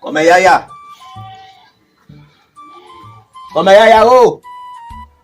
Kòmè yaya Kòmè yaya o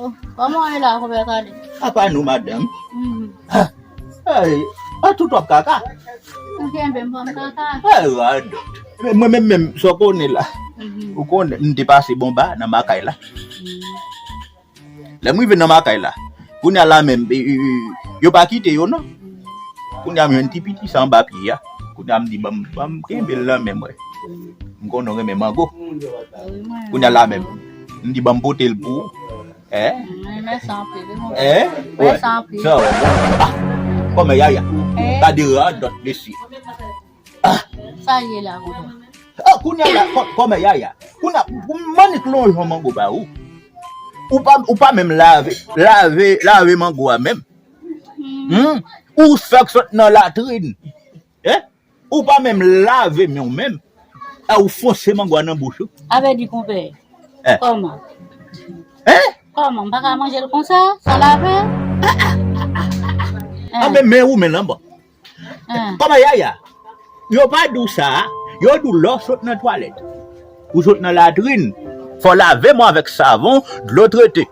Oh, kòman wè la kòpè kale? A pa nou madanm. Mm. Ha. Hey, a tout wap kaka. Ou gen ben pam kaka. Hey, rad. Men mwen men men so konnen la. Mm-hmm. Ou konnen m te pase bon ba nan makay la. Mm-hmm. Lè m rive nan makay la, kounye la men e, e, e, yo pa kite yo non. Kounye m yon ti piti san ba piye ya. Kounye m di bam bam kenbe la men mwen. M konnen men mango. Kounye la men. M di banm potel pou ou eeh. Mèsi anpil. Mèsi anpil. Sa wè bon. Kòmè yaya. Gade radòt mesye. Sa ye la vodò. Oh kounya la kòmè yaya. Kounya manik lonjwen mango ba ou. Ou pa menm lave lave lave mango a menm. Ou sòk sòt nan latrine. Ou pa menm lave men w menm e ou fonse mango a nan bouch ou. A vè di konpè, kòman? Hein? Kòman, m pa ka manje l konsa, san lave? An men men ou menm lan bon. Kòman Yaya? Yo pa di w sa, yo di w lè w sot nan twalèt, ou sot nan latrin, fò w lave men w avèk savon, dlo trete.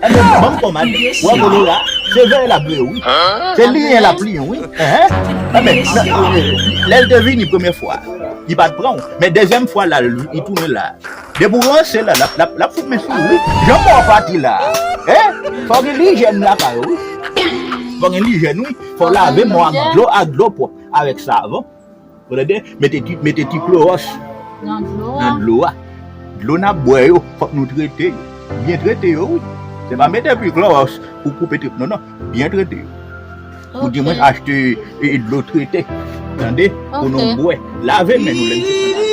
Anmweyy banm pomad wè bolo la se vè lap vre wi se liyen lap liyen wi anmweyy lèl te vini premye fwa li pat pranw men dezyèm fwa la li tounen la depi ou ranse la lap fout men sou wi jan paw pati la fò gen lijèn lakay ou wi fò gen lijèn wi fò lave menw ak dlo ak dlo pwòp avèk savon. Premye bagay, mete ti klowòs nan dlo a. Dlo n ap bwè yo, fòk nou trete yo. Byen trete yo wi. Se pa mete anpil klowòs pou koupe trip non. Non. Byen trete yo. Ou di mwen achte dlo trete. Tande? Pou nou bwè. Lave men nou lè n fin nan lavi.